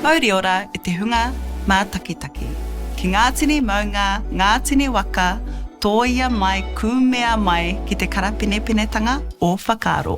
Mauriora e te hunga mātakitaki, ki ngā tini maunga, ngā tini waka, tōia mai, kūmea mai ki te karapenepenetanga o whakaaro.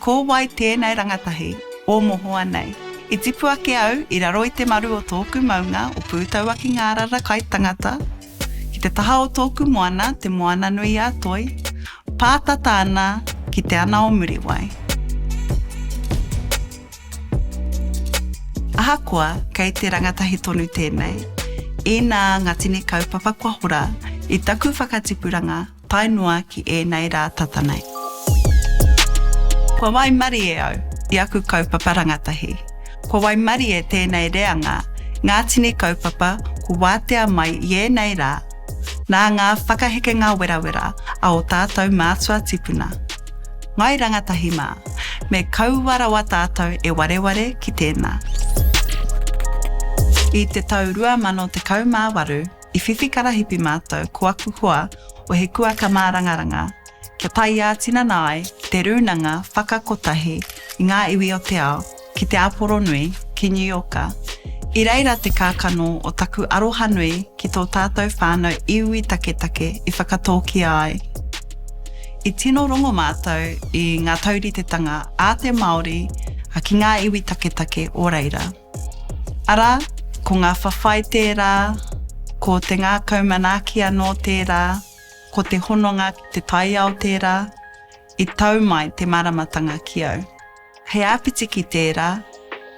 Ko wai tēnei rangatahi o mohoa nei? I tipu ake au i raro i te maru o tōku maunga o Pūtauakingārara kai tangata, ki te taha o tōku moana, te Moana-nui-a-Toi, pātata ana ki Te Ana-o-Muriwai. Ahakoa kei te rangatahi tonu tēnei, inā ngā tini kaupapa kua hora i taku whakatipuranga, tae noa ki ēnei rā tata nei. Kua waimarie au i aku kaupapa rangatahi. Kua waimarie tēnei reanga ngā tini kaupapa kua wātea mai i ēnei rā nā ngā whakahekenga werawera a ō tātou mātua tipuna. Ngāi Rangatahi mā, me kaua rawa tātou e wareware ki tēnā. I te tau 2018, I whiwhi karahipi mātou ko aku hoa o He Kuaka Mārangaranga kia tae ā-tinana ai ki te Rūnanga Whakakotahi i ngā Iwi o te Ao ki Te Āporonui, ki New Yorka. I reira te kākano o taku arohanui ki tō tātou whānau iwi taketake i whakatōkia ai. I tino rongo mātou i ngā tauritetanga a te Māori ki ngā iwi taketake o reira. Arā, ko ngā whawhai tērā, ko te ngākau manaaki anō tērā, ko te hononga ki te taiao tērā, i tau mai te māramatanga ki au. He āpiti ki tērā,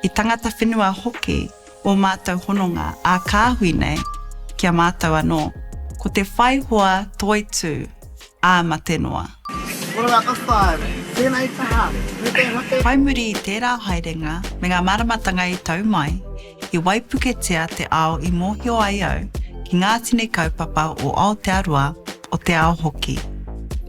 i tangata whenua hoki ō mātou hononga ā-kāhui nei ki a mātou anō. Ko te whai hoa toitū. ā mate noa. Ora ngā whakapae, tēnei kaha, me te hake. Whai muri i tērā haerenga me ngā māramatanga i tau mai, i waipuketia te ao i mōhio ai au ki ngā tini kaupapa o Aotearoa, o te ao hoki.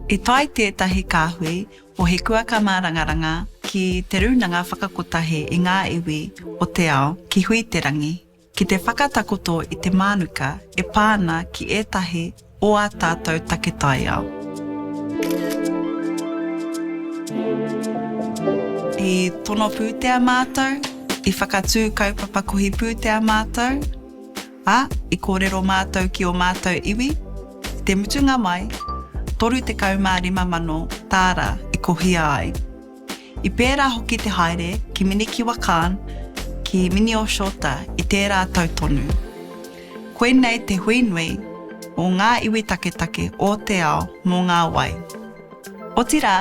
I tae tētahi kāhui o He Kuaka Mārangaranga ki Te Rūnanga Whakakotahi i ngā iwi o te ao ki Hui-te-rangi, ki te whakatakoto i te mānuka e pā ana ki ētahi o ā tātou take taiao. I tono pūtea mātou, i whakatū kaupapa kohi pūtea mātou, ā, i kōrero mātou ki ō mātou iwi, i te mutunga mai, 35 mano tāra i kohia ai. I pērā hoki te haere ki Minikiwa Khan, ki Minioshoota i tērā tau tonu. Koinei te hui nui o ngā iwi taketake o te ao mō ngā wai. Otirā,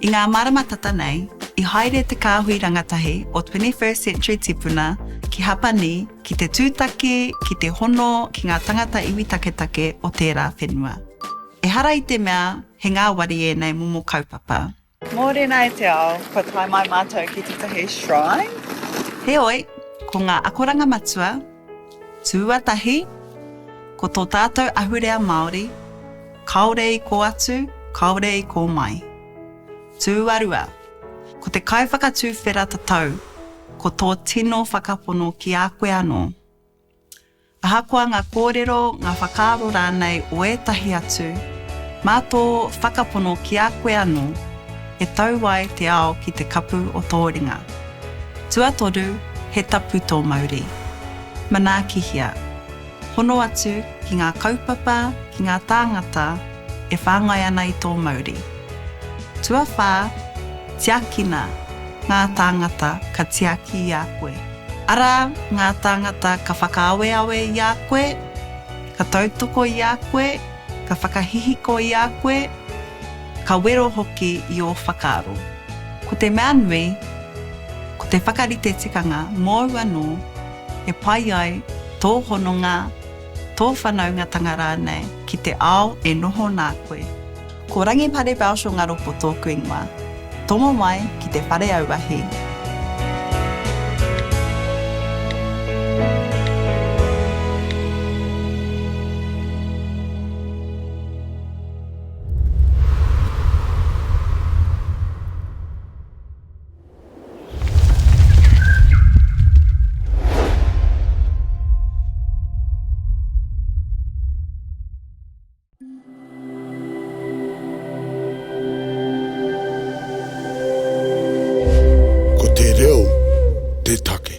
i ngā marama tata nei, i haere te kāhui rangatahi o Twenty First Century Tipuna ki Hapani ki te tūtaki, ki te hono ki ngā tangata iwi taketake o tērā whenua. Ehara i te mea he ngāwari ēnei momo kaupapa. Mōrena e te ao, kua tae mai mātou ki tētahi shrine. Heoi, ko ngā akoranga matua, tūatahi, ko tō tātou ahurea Māori, kāore i kō atu, kāore i kō mai. Tūarua, ko te kaiwhakatuwhera tatau, ko tō tino whakapono ki a koe anō. Ahakoa ngā kōrero, ngā whakaaro rānei o ētahi atu, mā tō whakapono ki a koe anō, he tau ai te ao ki te kapu o tō ringa. Tuatoru, he tapu tō mauri. Manaakihia. Hono atu ki ngā kaupapa, ki ngā tāngata e whāngai ana i tō mauri. Tuawhā, tiakina ngā tāngata ka tiaki i a koe. Arā, ngā tāngata ka whakaaweawe i a koe, ka tautoko i a koe, ka whakahihiko i a koe, ka wero hoki i ō whakaaro. Ko te mea nui, ko te whakarite tikanga mōu anō e pai ai tō hononga, tō whanaungatanga rānei ki te ao e noho nā koe. Ko Rangipare Belshaw Ngaropo tōku ingoa. Tomo mai ki te whare auahi. Ko te reo te take.